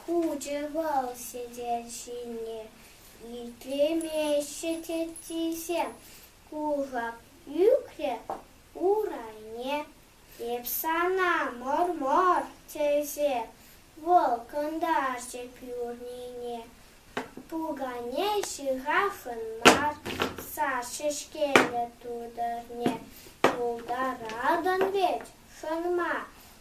хучӗ вӑл сӗтел ҫине. Итлемеҫҫӗ теттисем кушак ӳкрӗ урайне. Эп сана мӑр-мӑр тесе вӑл кӑнтарчӗ пӳрнине. Пукане ҫыхаҫҫын мар сас ҫеҫкеллӗ тутӑрне. Пултаратӑн вӗт, хӑнма,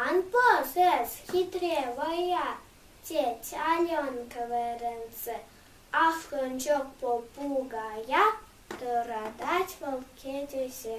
Ан пӑс эс, хитре вӑя, тет Ален кӗверенсӗр ахрӑнчӑк попугая, тӑратать вӑл кӗтесе.